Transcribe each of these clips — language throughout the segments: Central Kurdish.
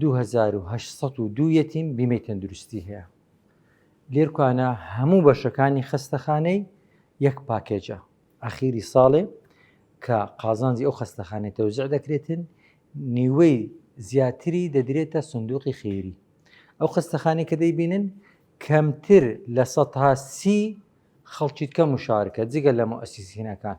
دوو هەزار و هەشت سەد و دوو یەتیم بیمەی تەندروستی هەیە لێرکانە هەموو بەشەکانی خەستەخانەی یەک پاکێجە ئەخیری ساڵێ کە قازانجی ئەو خەستەخانەی تەوزع دەکرێتن نیوەی زیاتری دەدرێتە سندوقی خێری ئەو خەستەخانی کە دەیبینن کەمتر لە سەها سی خەڵکیت کەم و شارکە جگە لە مەسیسینەکان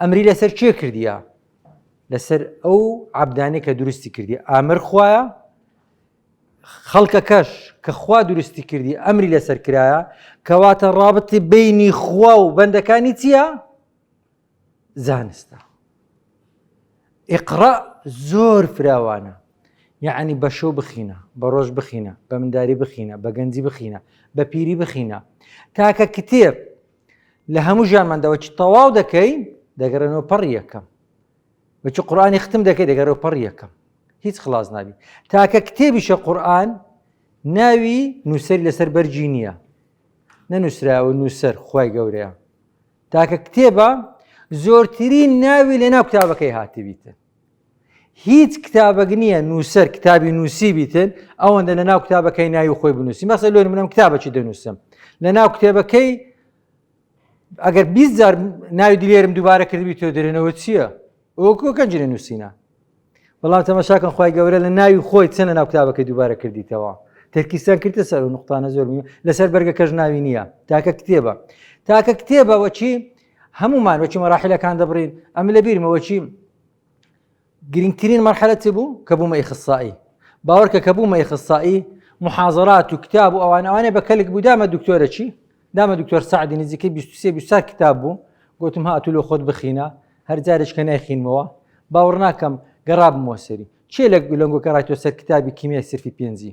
ئەمری لەسەر کێ کردیە لەسەر ئەو عبدانێک کە دروستی کردی ئامر خویە خەڵکەکەش کە خوا دروستی کردی ئەمری لەسەر کرایە کەواتە ڕابتی بینی خوا و بەندەکانی چییە؟ زانستە ئقڕا زۆر فراوانە یعنی بە شەو بخینە بە ڕۆژ بخینە بە منداری بخینە بە گەنجی بخینە بە پیری بخینە تاکە کتێب لە هەموو ژیانمان دەوەچی تەواو دەکەی دەگەڕێنەوە پەڕ یەکەم بەچی قورآانی ختم دەکەی دەگەرەوە پەڕ یەکەم هیچ خلاص نابی تاکە کتێبیشە قورآن ناوی نووسری لەسەر بەرجی نییە نەنووسراوە نووسەر خی گەورەیە تاکە کتێبە زۆرترین ناوی لە ناو کتابەکەی هاتبیتن هیچ کتابەک نییە نووسەر کتابی نووسیبیتن ئەوەندە لە ناو کتابەکەی ناوی خۆی بنووسی مەسە لۆ منم کتابەکی دەنووسم لە ناو کتێبەکەی ئەگەر بیزار ناوی دلێرم دووبارە کردبی تۆ درێنەوە چییە؟ ئۆکۆ گەنجێ نووسینە بەڵام تەمەشاکەن خخوای گەورە لە ناوی خۆی چەنە ناو کتابەکەی دووبارە کردیتەوە تەرکیستان کردە سەر و نقطانە زۆر لەسەر بەرگەکەش ناوی نییە تاکە کتێبە تاکە کتێبەوە چی هەموومان وەکی مەراحلەکان دەبڕین ئەم لە بیرمە وەکی گرنگترین مەرحەتی بوو کە بوومە ئیخصایی باوەڕکە کە بوومە ئیخصایی محازرات و کتاب و ئەوان ئەوانێ بە کەلک بوو دامە دکتۆرە چی دامە دکتۆر سعدی نزیکە 23 کتاب بوو گوتم هاتو لە خۆت بخینە هەر جارێک کە نایخینمەوە باوەڕ ناکەم گەڕابمەوە سەری چێ لە لەنگۆکە ڕاتۆ سەر کتابی کیمیای سرفی پێنجی